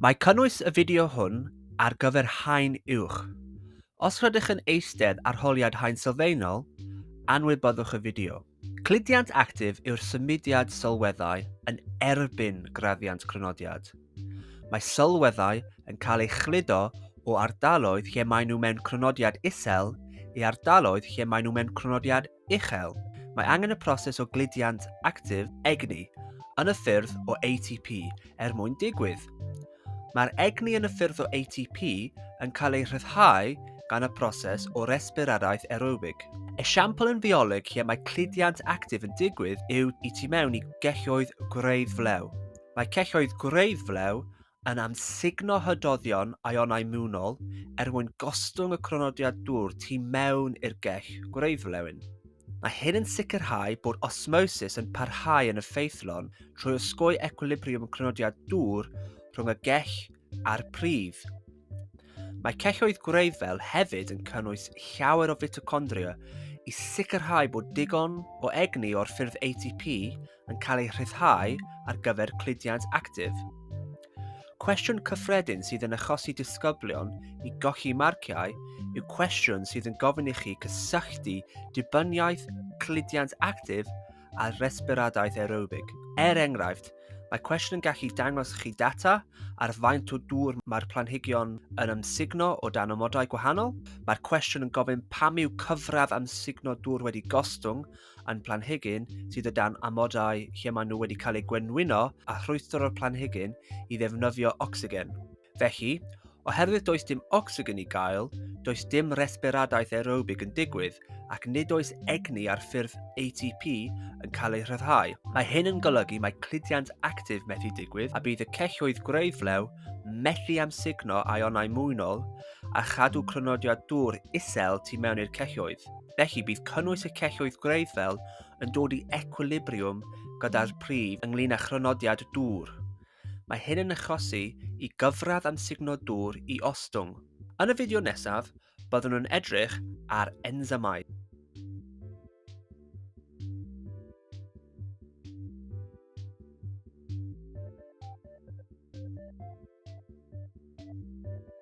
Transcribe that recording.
Mae cynnwys y fideo hwn ar gyfer haen uwch. Os rydych yn eistedd ar holiad haen sylfaenol, anwybyddwch y fideo. Cludiant actif yw'r symudiad sylweddau yn erbyn graddiant crynodiad. Mae sylweddau yn cael ei chludo o ardaloedd lle maen nhw mewn crynodiad isel i ardaloedd lle maen nhw mewn crynodiad uchel, mae angen y proses o gludiant actif, egni, yn y ffyrdd o ATP er mwyn digwydd. Mae'r egni yn y ffyrdd o ATP yn cael ei rhyddhau gan y proses o resbiradaeth aerobig. Esiampl yn fioleg lle mae cludiant actif yn digwydd yw i tu mewn i gelloedd gwreidd flew. Mae celloedd gwreidd flew yn amsugno hydoddion ionau mewnol er mwyn gostwng y cronodiad dŵr tu mewn i'r gell gwreidflewyn. Mae hyn yn sicrhau bod osmosis yn parhau yn effeithlon trwy osgoi equilibriwm cronodiad dŵr rhwng y gell a'r pridd. Mae celloedd gwreiddfel hefyd yn cynnwys llawer o fitochondria i sicrhau bod digon o egni o'r ffyrdd ATP yn cael ei rhyddhau ar gyfer cludiant actif. Cwestiwn cyffredin sydd yn achosi disgyblion i gochi marciau yw cwestiwn sydd yn gofyn i chi cysylltu dibyniaeth cludiant actif a resbiradaeth aerobig. Er enghraifft, mae cwestiwn yn gallu dangos chi data ar faint o dŵr mae'r planhigion yn amsugno o dan amodau gwahanol. Mae'r cwestiwn yn gofyn pam yw cyfradd amsugno dŵr wedi gostwng yn planhigyn sydd o dan amodau lle maen nhw wedi cael eu gwenwyno a rhwystr o'r planhigyn i ddefnyddio ocsigen. Felly, Oherwydd does dim ocsigen i gael, does dim resberadaeth aerobig yn digwydd ac nid oes egni ar ffurf ATP yn cael ei rhyddhau. Mae hyn yn golygu mae cludiant actif methu digwydd a bydd y celloedd gwreiddflew methu amsugno aionau mwynol a chadw crynodiad dŵr isel tu mewn i'r celloedd. Felly bydd cynnwys y celloedd gwreiddfel yn dod i ecwilibriwm gyda'r pridd ynglyn â chrynodiad dŵr. Mae hyn yn achosi i gyfradd amsugno dŵr i ostwng. Yn y fideo nesaf, byddwn yn edrych ar ensymau.